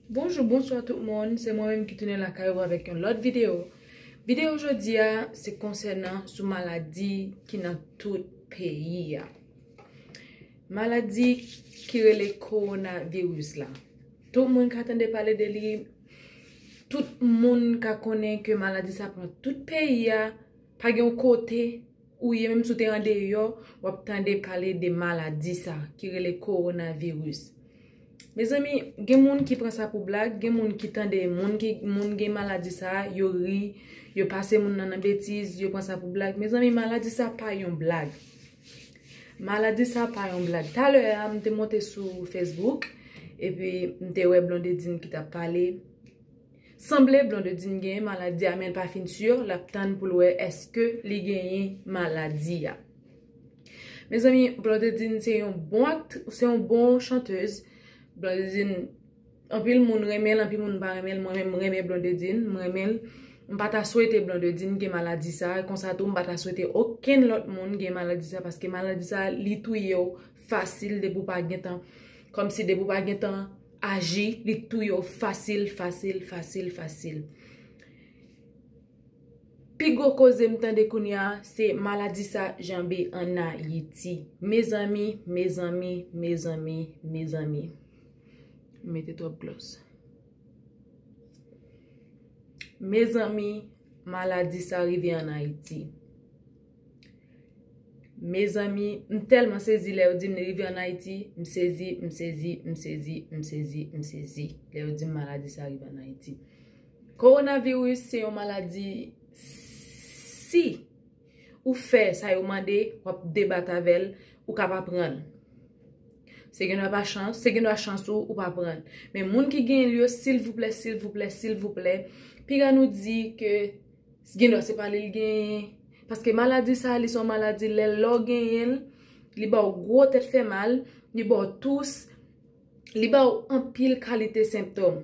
Bonjou bonswa tout moun se mwen menm ki tounen lakay ou avèk yon lòt videyo videyo jodi a se konsènan sou maladi ki nan tout peyi a maladi ki rele korona viris la tout moun ka tande pale de li tout moun ka konnen ke maladi sa pran tout peyi a pa gen yon kote Ou ye menm si w te andeyò w ap tande pale de maladi sa ki rele kowonaviris. Mezanmi gen moun ki pran sa pou blag, gen moun ki tande moun gen maladi sa yo ri, yo pase moun nan nan betiz, yo pran sa pou blag. Mezanmi maladi sa pa yon blag. Maladi sa pa yon blag. Talè a m te monte sou Facebook epi m te wè Blondedine ki t ap pale. Sanble Blondedine genyen maladi a menl pa fin sur lap tann poul wè eske li genyen maladi a. Mezanmi Blondedine se yon bon aktri se yon bon chanteuse Blondedine anpil moun renmenl anpil moun pa renmenl mwen menm m renmen Blondedine m renmenl m pa ta swete Blondedine gen maladi sa konsa tou m pa ta swete okenn lòt moun gen maladi sa paske maladi sa li touyew fasil depi w pa gentan kòmsi depi w pa gentan aji li k touye w fasil fasil fasil fasil pi gwo koze m tande kounya se maladi sa janbe an ayiti mezanmi mezanmi mezanmi mezanmi m mete twòp glòs mezanmi maladi sa rive an ayiti. Mezanmi m telman sezi lè yo dim li rive an ayiti m sezi m sezi m sezi m sezi m sezi lè yo dim maladi sa rive an ayiti korona viris se yon maladi si ou fè sa yo mande wap debat avèl ou ka pa pranl se gen dwa pa chans se gen dwa chans ou ou pa pranl men moun ki genyen l yo silvouplè silvouplè silvouplè piga nou di ke S gen dwa se pa li l genyen. Paske maladi sa a li se yon maladi lè lè w genyen l, li ba w gwo tèt fè mal, li ba w tous, li ba w anpil kalite sentòm.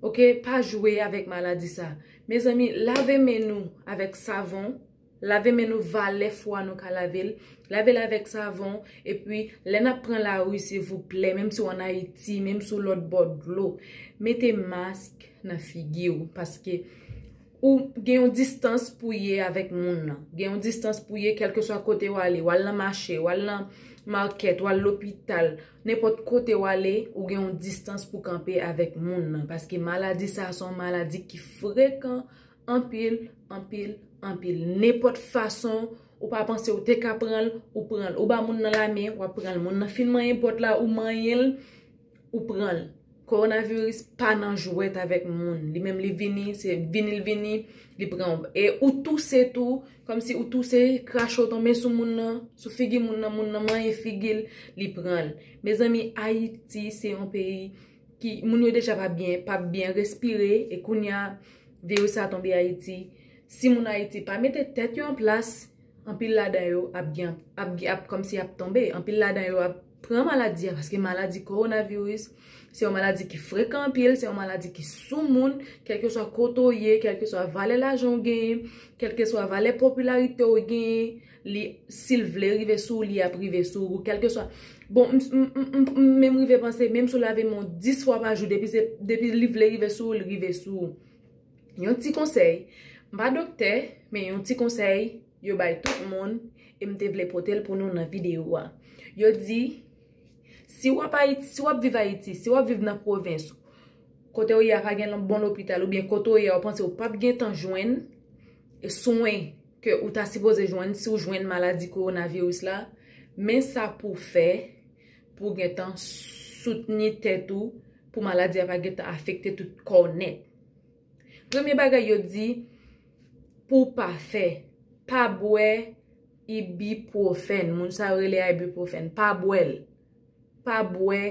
Ok, pa jwe avèk maladi sa. Mezanmi, lave men nou avèk savon, lave men nou valè fwa nou ka lave l, lave l avèk savon, epi lè n ap pran lari silvouplè, menm si w an Ayiti, menm si w lòtbò dlo, mete mask nan figi w. Paske. Ou gen yon distans pou ye avèk moun nan. Gen yon distans pou ye kelke swa kote ou ale. Ou al nan mache, ou al nan market, ou al lopital. Nenpòt kote ou ale, ou gen yon distans pou kanpe avèk moun nan. Paske maladi sa son maladi ki frekan anpil, anpil, anpil. Nenpòt fason ou pa panse ou te ka pranl, ou pranl. Ou ba moun nan lamen, ou ap pranl. Moun nan fin manyen pòt la, ou manyenl, Ou pranl. Coronavirus pa nan jwèt avèk moun. Li menm li vini, se vini l vini, li pran w. E ou touse tou, kòm si ou touse, krache w tonbe sou moun nan, sou figi moun nan, moun nan manyen figi l, li pran l. Mezanmi, Ayiti se yon peyi ki, moun yo deja pa byen, pa byen respire, e kounya, viris sa tonbe Ayiti. Si moun Ayiti pa mete tèt yo an plas. Anpil ladan yo ap gen ap gen ap kòmsi y ap tonbe. Anpil ladan yo ap pran maladi a paske maladi kowonaviris se yon maladi ki frekan anpil, se yon maladi ki sou moun, kèlkeswa kote ou ye, kèlkeswa valè lajan ou genyen, kèlkeswa valè popilarite ou genyen, li si l vle rive sou ou li ap rive sou ou. Kèlkeswa, bon m menm rive panse menm si w lave men w 10 fwa pa jou depi se depi li vle rive sou ou li rive sou ou. Yon ti konsèy, m pa doktè, men yon ti konsèy yo bay tout moun e m te vle pote l pou nou nan videyo a. Yo di, si w ap Ayiti, si w ap viv Ayiti, si w ap viv nan pwovens, kote ou ye a pa gen bon lopital oubyen kote ou ye a ou panse ou pap gen tan jwenn swen ke ou ta sipoze jwenn si w jwenn maladi kowonaviris la, men sa pou w fè pou w gen tan soutni tèt ou pou maladi a pa gen tan afekte tout kò w nèt. Premye bagay yo di pou w pa fè, pa bwè ibipwofèn. Moun sa yo rele a ibipwofèn. Pa bwè l. Pa bwè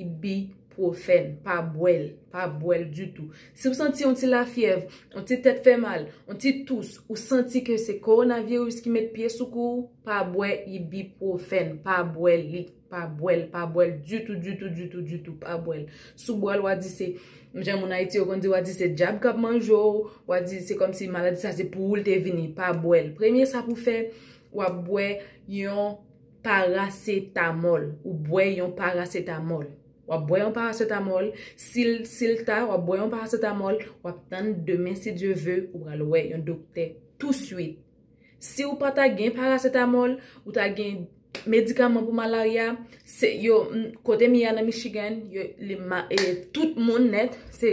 ibipwofèn. Pa bwè l. Pa bwè l ditou. Si w santi yon ti lafyèv, yon ti tèt fè mal, yon ti tous, ou santi ke se kowonaviris ki met pye sou kou, pa bwè ibipwofèn. Pa bwè li. Pa bwèl, pa bwèl ditou, ditou, ditou, ditou, pa bwèl. Si w bwè l, w a di se, jan moun Ayiti yo konn di, w a di se dyab k ap manje w, w a di se kòm si maladi sa se pou ou l te vini. Pa bwèl. Premye sa pou w fè, w ap bwè yon parasetamòl. Ou bwè yon parasetamòl. W ap bwè yon parasetamòl. Si l, si l ta, w ap bwè yon parasetamòl. W ap tann demen si Dye ve, ou pral wè yon doktè touswit. Si ou pa ta gen paracetamol, ou ta gen medikaman pou malarya, se yo, kote m ye a nan Michigan, yo, li ma, e, tout moun nèt, se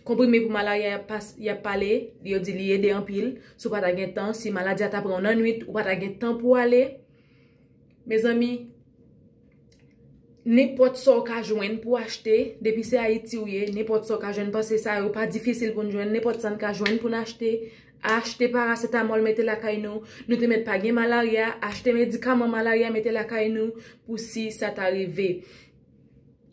konprime pou malarya y ap pas, y ap pale, yo di li ede anpil, si w pa ta gen tan, si maladi a ta pran w nan nwit, ou pa ta gen tan pou ale, mezanmi. Nenpòt sa w ka jwenn pou w achte, depi se Ayiti ou ye, nenpòt sa w ka jwenn pase sa yo pa difisil pou n jwenn, nenpòt sa n ka jwenn pou n achte, achte parasetamòl mete lakay nou, nou te mèt pa gen malarya, achte medikaman malarya mete lakay nou pou si sa ta rive.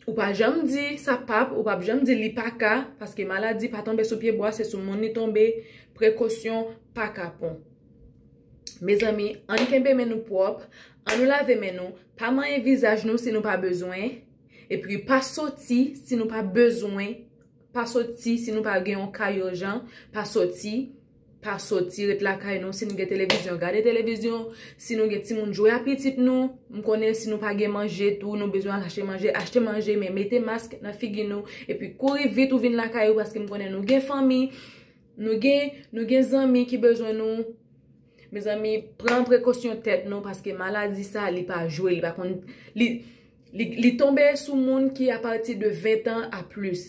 Ou pa janm di sa pap, ou pap janm di li pa ka, paske maladi pa tonbe sou pye bwa, se sou moun li tonbe, prekosyon pa kapon. Mezanmi ann kenbe men nou pwòp, an nou lave men nou, pa manyen vizaj nou si nou pa bezwen, epi pa soti si nou pa bezwen, pa soti si nou pa gen yon ka urjan, pa soti, pa soti ret lakay nou, si nou gen televizyon gade televizyon, si nou gen timoun jwe a pitit nou, m konnen si nou pa gen manje tou nou bezwen al achte manje, achte manje men mete mask nan figi nou, epi kouri vit ou vin lakay ou paske m konnen nou gen fanmi. Nou gen nou gen zanmi ki bezwen nou mezanmi pran prekosyon tèt nou paske maladi sa li pa jwe li pa konn li li tonbe sou moun ki apati de 20 ans a plis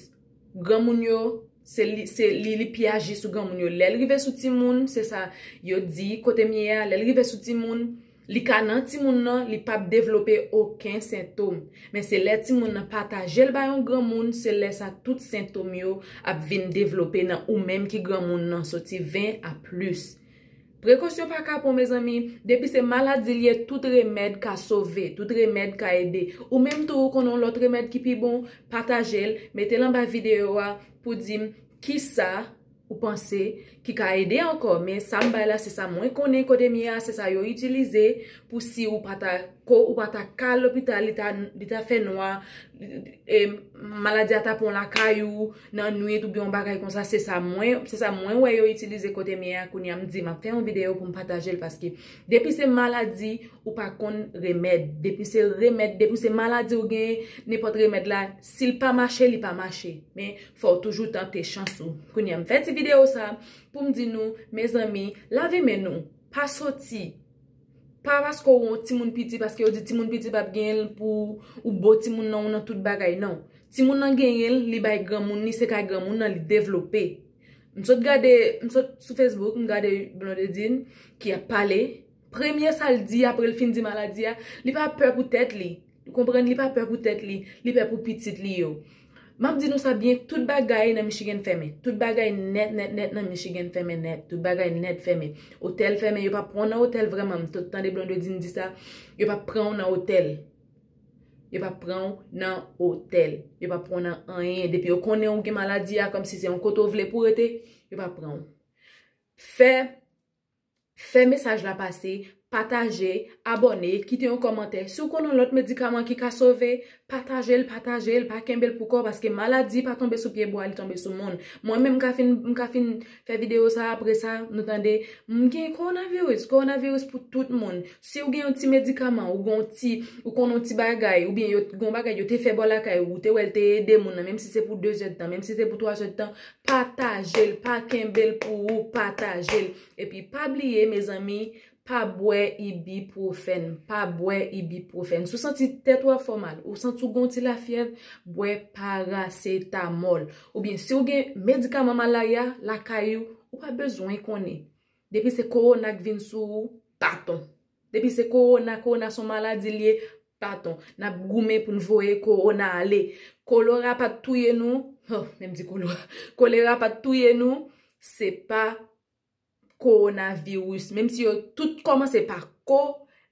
granmoun yo se li se li li pi aji sou granmoun yo lèl rive sou timoun se sa yo di kotem ye a lèl rive sou timoun Li ka nan timoun nan, li pap devlope oken sentom. Men se lè timoun nan pataje l bay yon granmoun, se lè sa tout sentom yo ap vin devlope nan ou menm ki granmoun nan soti 20 a plis. Prekosyon pa kapon mezanmi, depi se maladi li ye tout remèd ka sove, tout remèd ka ede. Ou menm tou ou konnen yon lòt remèd ki pi bon, pataje l, mete l anba videyo a pou di m kisa. ou panse ki ka ede ankò men sa m bay la se sa mwen konnen kote m ye a se sa yo itilize pou si ou pa ta ko ou pa ta ka al lopital li ta li ta fè nwa e maladi a ta pran w lakay ou nan nwit oubyen yon bagay konsa se sa mwen se sa mwen wè yo itilize kote m ye a kounye a m di m ap fè yon videyo pou m pataje l paske depi se maladi ou pa konn remèd depi se remèd depi se maladi ou genyen nenpòt remèd la si l pa mache li pa mache men Fòw toujou tante chans ou. Kounya m fè ti video sa poum di nou mezanmi lave men nou pa soti pa paske ou on timoun piti paske yo di timoun piti pap genyen l pou ou bo timoun nan ou nan tout bagay nan timoun nan genyen l li bay granmoun li se kay granmoun nan li devlope m sot gade m sot sou Facebook m gade Blondedine ki ap pale. Premye sa l di apre l fin di maladi a, li pa pè pou tèt li. Ou konprann? Li pa pè pou tèt li, li pè pou pitit li yo. M ap di nou sa byen, tout bagay nan Michigan fèmen. Tout bagay nèt nèt nèt nan Michigan fèmen nèt. Tout bagay nèt fèmen. Otèl fèmen, yo pa pran w nan otèl vrèman. M to tande Blondedine di sa, yo pa pran w nan otèl. Yo pa pran w nan otèl. Yo pa pran w nan anyen. Depi yo konnen ou gen maladi a, kòmsi se yon kote ou vle pou w rete, yo pa pran w. Fè Fè mesaj la pase, pataje, abòne, kite yon kòmantè. Si w konnen yon lòt medikaman ki ka sove, pataje l, pataje l, pa kenbe l pou kò w paske maladi pa tonbe sou pye bwa, li tonbe sou moun. Mwen menm m ka fin, m ka fin fè videyo sa apre sa nou tande m gen kowonaviris, kowonaviris pou tout moun. Si w gen yon ti medikaman, ou gen yon ti, ou konnen yon ti bagay, oubyen yo, gen yon bagay yo te fè ba w lakay ou, ou te wè l te ede moun nan, menm si se pou dezèdtan, menm si se pou twazèdtan, Patajel pa kenbel pou ou patajel epi pa bliye mezanmi pa bwè ibuprofen pa bwè ibuprofen sou santi tèt ou ap fè w mal ou santi w gen yon ti lafyèv bwè paracetamol oubyen si w gen medikaman malaria lakay ou ou pa bezwen konnen depi se korona k vin sou ou baton. Depi se korona, korona son maladi liye, paton, nap goumen poun voye korona ale. Kolora pat touye nou, oh, menm di kolora, kolera pat touye nou, se pa korona viris, menm si yo tout komanse pa ko,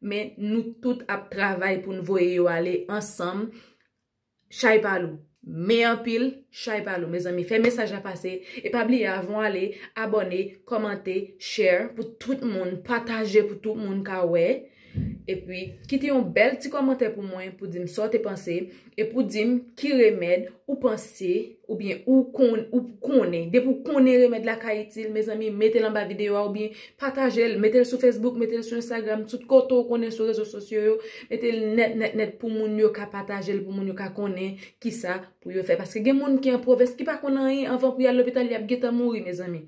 men nou tout ap travay poun voye yo ale ansanm, Chay pa lou Men anpil Chay pa lou mezanmi fè mesaj la pase e pa bliye avan w ale abòne kòmante share pou tout moun pataje pou tout moun ka wè epi kite yon bèl ti kòmantè pou mwen pou di m sa w te panse e pou di m ki remèd ou panse Oubyen ou konn, ou konnen. Depi ou konnen remèd la ka itil, mezanmi, mete l anba videyo a oubyen pataje l. Mete l sou Facebook, mete l sou Instagram, tout kote ou konnen sou rezo sosyo yo. Mete l nèt, nèt, nèt pou moun yo ka pataje l, pou moun yo ka konnen kisa pou yo fè. Paske gen moun ki an pwovens ki pa konn anyen anvan pou y al lopital y ap gentan mouri, mezanmi.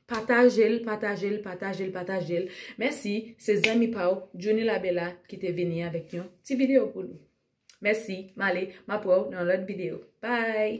Pataje l, pataje l, pataje l, pataje l. Mèsi, se zanmi pa ou, Djouni Labella, ki te vini avèk yon ti videyo pou nou. Mèsi, m ale, m ap wè w nan yon lòt videyo. Bye!